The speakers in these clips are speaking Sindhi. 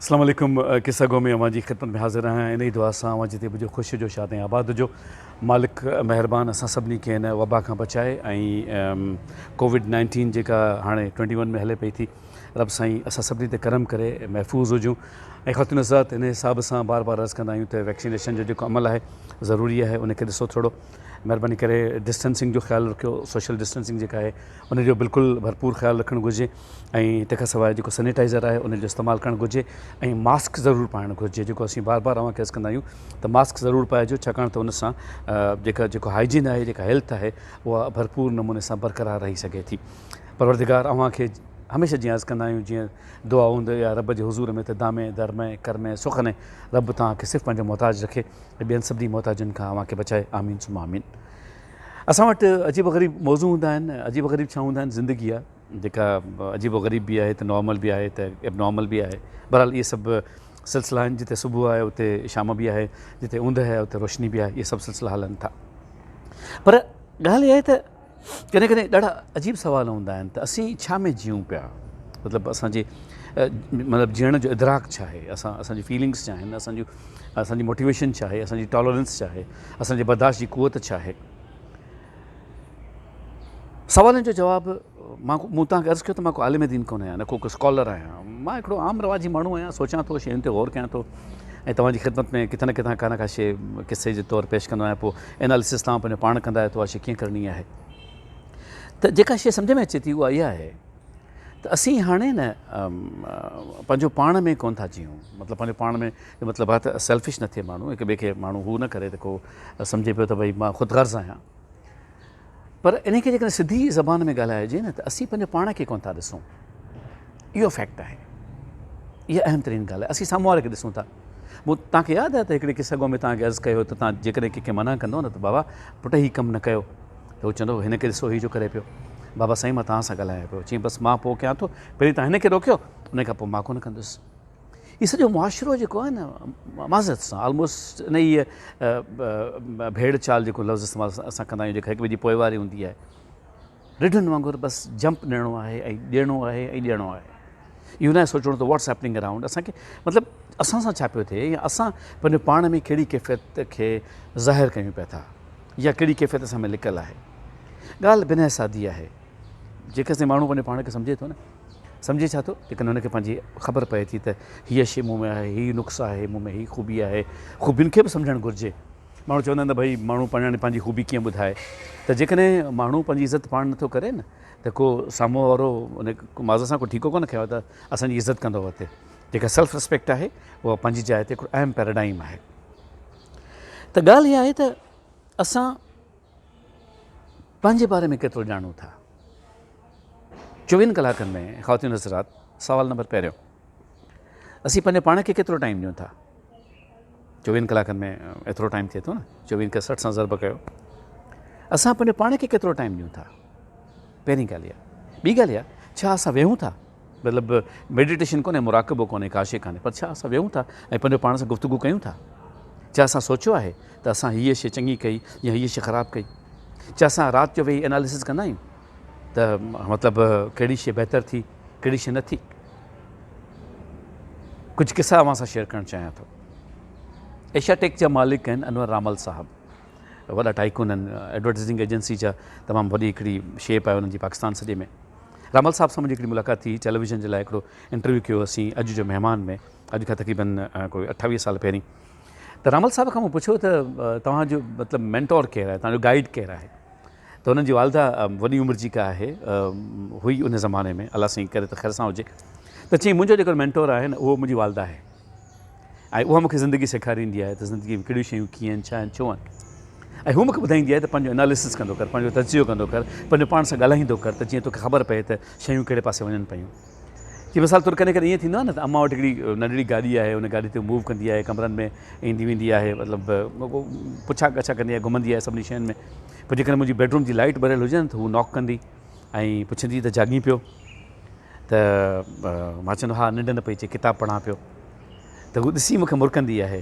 اسلام عليڪم قصه گو ۾ اوهان جي خدمت ۾ حاضر آهيان انهي دعا سان اوهان جتي به هجو خوش هجو شاد ۽ آباد هجو مالڪ مهربان اسان سڀني کي هن وبا کان بچائي ۽ ڪووڊ نائنٽين جيڪا هاڻي ٽوئنٽي ون ۾ هلي پئي ٿي رب سائين اسان سڀني تي کرم ڪري محفوظ هجون ۽ خاتون حضرات ان حساب سان بار بار عرض ڪندا آهيون ته ويڪسينيشن جو جيڪو عمل آهي ضروري آهي ان کي ڏسو ٿورو مهرباني ڪري ڊسٽنسنگ جو خيال رکيو سوشل ڊسٽنسنگ جيڪا آهي ان جو بلڪل ڀرپور خيال رکڻ گهرجي ۽ تنهن کان سواء جيڪو سينيٽائزر آهي ان جو استعمال ڪرڻ گهرجي ۽ ماسڪ ضرور پائڻ گهرجي جيڪو اسين بار بار اوهان کي عرض ڪندا آهيون ته ماسڪ ضرور پائجو ڇاڪاڻ ته ان سان جيڪا جيڪو هائجين آهي جيڪا هيلٿ آهي اها ڀرپور نموني سان برقرار رهي سگهي ٿي پروردگار اوهان کي هميشه جيئن عرض ڪندا آهيون جيئن دعا هوند اي رب جي حضور ۾ ته دامي درمي ڪرمي سخني رب توهان کي صرف پنهنجو محتاج رکي ۽ ٻين سڀني محتاجن کان اوهان کي بچائي آمين ثم آمين. اسان وٽ عجيب و غريب موضوع هوندا آهن، عجيب و غريب ڇا هوندا آهن زندگي اها جيڪا عجيب و غريب به آهي ته نارمل به آهي ته ايب نارمل به آهي بهرحال اهي سڀ سلسلا آهن جتي صبح آهي اتي شام به آهي جتي اوندهه آهي اتي روشني به آهي اهي سڀ سلسلا هلن ٿا پر ڳالهه اها آهي ته ڪڏهن ڪڏهن ڏاڍا عجيب سوال هوندا آهن ته اسين ڇا ۾ جيئون پيا مطلب اسانجي مطلب جيئڻ جو ادراڪ ڇا آهي اسان اسانجي فيلنگس ڇا آهن اسانجو اسانجي موٽيويشن ڇا آهي اسانجي ٽالرنس ڇا آهي اسان جي برداشت جي قوت ڇا آهي؟ سوالن جو جواب، مان مون توهان کي عرض ڪيو ته مان ڪو عالم دين ڪونه آهيان نه ڪو اسڪالر آهيان، مان هڪڙو عام رواجي ماڻهو آهيان، سوچان ٿو، شين تي غور ڪيان ٿو ۽ توهان جي خدمت ۾ ڪٿان نه ڪٿان ڪا نه ڪا شيء قصي جي طور پيش ڪندو آهيان، پوء اناليسس توهان پنهنجو پاڻ ڪندا آهيو ته اها شيء ڪيئن ڪرڻي آهي ته جيڪا شيء سمجهه ۾ اچي ٿي اها اها آهي ته اسين هاڻي نه پنهنجو پاڻ ۾ ڪونه ٿا جيئون مطلب پنهنجو پاڻ ۾ جو مطلب آهي ته سيلفش نه ٿئي ماڻهو هڪ ٻئي کي ماڻهو هو نه ڪري ته ڪو سمجهي پيو ته ڀئي مان خود غرض آهيان پر ان کي جيڪڏهن سڌي زبان ۾ ڳالهائجي نه ته اسين پنهنجو پاڻ کي ڪونه ٿا ڏسون اهو فيڪٽ آهي اها اهم ترين ڳالهه آهي اسين سامهون واري کي ڏسون ٿا مون توهان کي ياد آهي ته هڪڙي قصه گو ۾ توهان کي عرض ڪيو ته توهان جيڪڏهن ڪنهنکي منع ڪندو نه ته بابا پٽ هي ڪم نه ڪيو ته هو چوندو هن کي ڏسو هي جو ڪري پيو بابا سائين مان توهان سان ڳالهايان پيو چي بس مان پوء ڪيان ٿو پهرين توهان هن کي روڪيو ان کان پوء مان ڪونه ڪندس هي سڄو معاشرو جيڪو آهي نه معذرت سان آلموسٽ ان هي ڀيڙ چال جيڪو لفظ استعمال اسان ڪندا آهيون جيڪا هڪ ٻئي جي پوئواري هوندي آهي رڍن وانگر بس جمپ ڏيڻو آهي ۽ ڏيڻو آهي ۽ ڏيڻو آهي اهو ناهي سوچڻو ته واٽس هيپننگ اراؤنڊ اسانکي مطلب اسان سان ڇا پيو ٿئي يا اسان پنهنجو پاڻ ۾ ڪهڙي ڪيفيت کي ظاهر ڪيون پيا ٿا يا ڪهڙي ڪيفيت اسان ۾ لڪل آهي ڳالهه بنهه سادي آهي جيڪسين ماڻهو پنهنجو پاڻ کي سمجهي ٿو نه سمجهي ڇا ٿو؟ ليڪن هن کي پنهنجي خبر پئي ٿي ته هيء شيء مون ۾ آهي، هيء نقص آهي، مون ۾ هيء خوبي آهي. خوبين کي به سمجهڻ گهرجي. ماڻهو چوندا آهن ته ڀئي ماڻهو پاڻ ڄاڻي پنهنجي خوبي ڪيئن ٻڌائي؟ ته جيڪڏهن ماڻهو پنهنجي عزت پاڻ نٿو ڪري نه ته ڪو سامهون وارو ان ماض سان ڪو ٺيڪو ڪونه کنيو ته اسان جي عزت ڪندو اتي جيڪا سيلف رسپيڪٽ آهي اها پنهنجي جاء تي هڪڙو اهم پيراڊائم آهي ته ڳالهه اها آهي ته اسان پنهنجي باري ۾ ڪيترو ڄاڻو ٿا؟ چوويهن ڪلاڪن ۾ خواتين حضرات سوال نمبر پهريون اسين پنهنجي پاڻ کي ڪيترو ٽائيم ڏيون ٿا؟ چوويهن ڪلاڪن ۾ ايترو ٽائيم ٿئي ٿو نه چوويهن کي سٺ سان ضرب ڪيو اسان پنهنجي پاڻ کي ڪيترو ٽائيم ڏيون ٿا پهرين ڳالهه اها ٻي ڳالهه اها ڇا اسان ويهون ٿا مطلب ميڊيٽيشن ڪونهي مراقبو ڪونهي ڪاشي ڪانهي پر ڇا اسان ويهون ٿا ۽ پنهنجو پاڻ سان گفتگو ڪيون ٿا ڇا اسان سوچيو آهي ته اسان هيء شي چڱي ڪئي يا هيء شي خراب ڪئي ڇا اسان رات جو ويهي اناليسز ڪندا آهيون ته مطلب ڪهڙي شي بهتر ٿي ڪهڙي شي نه ٿي ڪجهه قصا اوهان سان شيئر ڪرڻ چاهيان ٿو ايشيا ٽيڪ جا مالڪ آهن انور رامل صاحب وڏا ٽائيڪون آهن ايڊورٽائزنگ ايجنسي جا تمام وڏي هڪڙي شيپ آهي انهن جي پاڪستان سڄي ۾ رامل صاحب سان منهنجي هڪڙي ملاقات ٿي ٽيليويزن جي لاء هڪڙو انٽرويو ڪيو اسين اڄ جو مهمان ۾ اڄ کان تقريبن ڪوئي اٺاويهه سال پهرين ته رامل صاحب کان مون پڇيو ته توهان جو مطلب مينٽور ڪير آهي توهان جو گائيڊ ڪير آهي ته هنن جي والده وڏي عمر جي ڪا آهي هئي ان زماني ۾ الله سائين ڪري ته خير سان هجي ته چيائين منهنجو جيڪو مينٽور آهي نه اهو منهنجي والده آهي ۽ اها مونکي زندگي سيکاريندي آهي ته زندگي ۾ ڪهڙيون شيون ڪيئن آهن ڇا آهن ڇو آهن ۽ هو مونکي ٻڌائيندي آهي ته پنهنجو اناليسس ڪندو ڪر پنهنجو تجزيو ڪندو ڪر پنهنجو پاڻ سان ڳالهائيندو ڪر ته جيئن توکي خبر پئي ته شيون ڪهڙي پاسي وڃن پيون جي مثال طور ڪڏهن ڪڏهن ائين ٿيندو آهي نه ته امان وٽ هڪڙي ننڍڙي گاڏي آهي ان گاڏي تي موو ڪندي آهي ڪمرن ۾ ايندي ويندي آهي مطلب پڇا ڳڇا ڪندي آهي گهمندي آهي سڀني شين ۾ پوء جيڪڏهن منهنجي بيڊروم جي لائٽ ٻريل هجي ته هو ناڪ ڪندي ۽ پڇندي ته جاڳين پيو ته مان چوندو ها ننڊ نه پئي اچي ڪتاب پڙهان پيو ته هو ڏسي مونکي مرڪندي آهي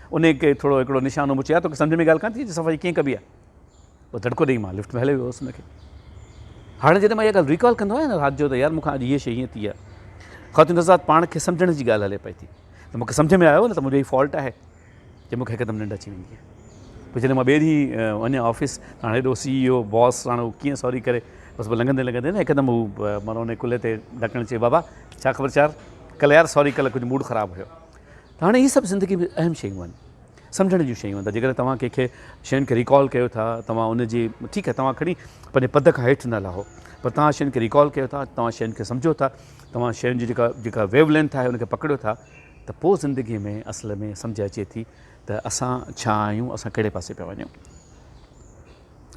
انهيء کي ٿورو هڪڙو نشانو مون چيا، توکي سمجهه ۾ ڳالهه ڪانه ٿي اچي صفائي ڪيئن ڪبي آهي؟ پوء دڙڪو ڏيئي مان لفٽ ۾ هليو ويو هوس ان کي. هاڻي جڏهن مان اها ڳالهه ريڪال ڪندو آهيان نه رات جو ته يار مون کان اڄ هيء شيء هيئن ٿي آهي. خاتون رضا پاڻ کي سمجهڻ جي ڳالهه هلي پئي ٿي ته مون کي سمجهه ۾ آيو نه ته منهنجو ئي فالٽ آهي جو مون کي هڪدم ننڊ اچي ويندي آهي. پوء جڏهن مان ٻئي ڏينهن وڃان آفيس ته هاڻي هيڏو سي اي او باس هاڻي هو ڪيئن سوري ڪري بس پوء لنگهندي لنگهندي نه هڪدم هو مانو انهيء ڪلهي تي ڍڪڻ چئي بابا ڇا خبر چار ڪل يار سوري ڪل ڪجهه موڊ خراب هيو ته هاڻي اهي سڀ زندگي ۾ اهم شيون آهن سمجهڻ جون شيون آهن ته جيڪڏهن توهان ڪنهن کي شين کي ريڪال ڪيو ٿا توهان ان جي ٺيڪ آهي توهان کڻي پنهنجي پد کان هيٺ نه لهو پر توهان شين کي ريڪال ڪيو ٿا توهان شين کي سمجهو ٿا توهان شين جي جيڪا جيڪا ويو لينٿ آهي ان کي پڪڙيو ٿا ته پوء زندگي ۾ اصل ۾ سمجهه اچي ٿي ته اسان ڇا آهيون اسان ڪهڙي پاسي پيا وڃون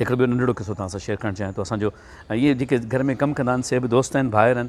هڪڙو ٻيو ننڍڙو قصو توهان سان شيئر ڪرڻ چاهيان ٿو اسان جو ائين جيڪي گهر ۾ ڪم ڪندا آهن سي به دوست آهن ڀائر آهن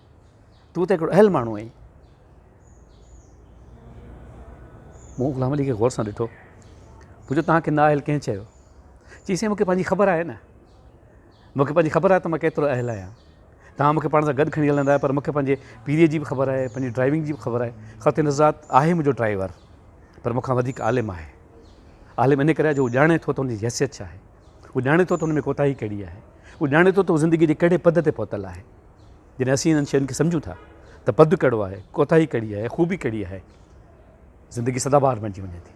تون ته هڪڙو اهل ماڻهو آهين. مون غلام علي کي غور سان ڏٺو. پڇيو توهان کي نااهل ڪنهن چيو؟ چي سائين مون کي پنهنجي خبر آهي نه. مون کي پنهنجي خبر آهي ته مان ڪيترو اهل آهيان. توهان مون کي پاڻ سان گڏ کڻي هلندا آهيو پر مون کي پنهنجي پيريء جي به خبر آهي، پنهنجي ڊرائيونگ جي به خبر آهي. خطي نزات آهي منهنجو ڊرائيور پر مون کان وڌيڪ عالم آهي. عالم ان ڪري آهي جو هو ڄاڻي ٿو ته هن جي حيثيت ڇا آهي. هو ڄاڻي ٿو ته هن ۾ ڪوتاهي ڪهڙي آهي. هو ڄاڻي ٿو ته هو زندگيء جي ڪهڙي پڌ تي پهتل آهي. جڏهن اسين انهن شين کي سمجهون ٿا ته پد ڪهڙو آهي، ڪوتاهي ڪهڙي آهي، خوبي ڪهڙي آهي، زندگي سدابهار بڻجي وڃي ٿي.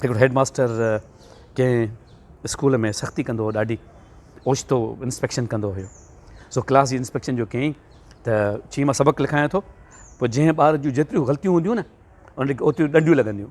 هڪڙو هيڊ ماستر ڪنهن اسڪول ۾ سختي ڪندو هو، ڏاڍي اوچتو انسپيڪشن ڪندو هيو، سو ڪلاس جي انسپيڪشن جو ڪيائين ته چيائين مان سبق لکايان ٿو، پوء جنهن ٻار جون جيتريون غلطيون هونديون نه ان کي اوتريون ڏنڊيون لڳنديون.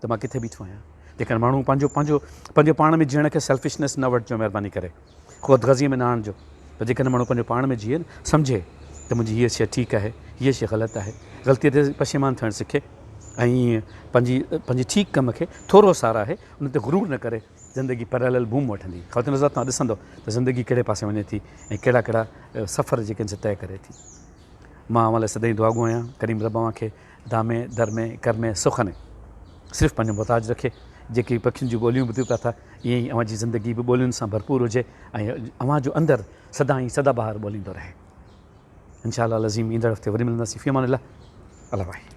ته مان ڪٿي بيٺو آهيان. جيڪڏهن ماڻهو پنهنجو پنهنجو پنهنجو پاڻ ۾ جيئڻ کي سيلفشنيس نه وٺجو مهرباني ڪري خود غرضيء ۾ نه آڻجو پر جيڪڏهن ماڻهو پنهنجو پاڻ ۾ جيئي نه سمجهي ته منهنجي هيء شيء ٺيڪ آهي هيء شيء غلط آهي غلطيء تي پشيمان ٿيڻ سکي ۽ ائين پنهنجي پنهنجي ٺيڪ ڪم کي ٿورو ساراهي ان تي غرور نه ڪري زندگي پيرالل بوم وٺندي خواتين حضرات توهان ڏسندو ته زندگي ڪهڙي پاسي وڃي ٿي ۽ ڪهڙا ڪهڙا سفر جيڪي ان سان طئي ڪري ٿي مان اوهان لاء سدائين دعاگو آهيان ڪريم رب اوهان کي ڌامي، درمي، ڪرمي، سخني صرف پنهنجو محتاج رکي، جيڪي پکين جون ٻوليون ٻڌيو پيا ٿا، ائين ئي اوهان جي زندگي به ٻولين سان ڀرپور هجي ۽ اوهان جو اندر سدائين سدا بهار ٻوليندو رهي. ان شاء الله العظيم ايندڙ هفتي وري ملنداسين في امان الله الله واحد.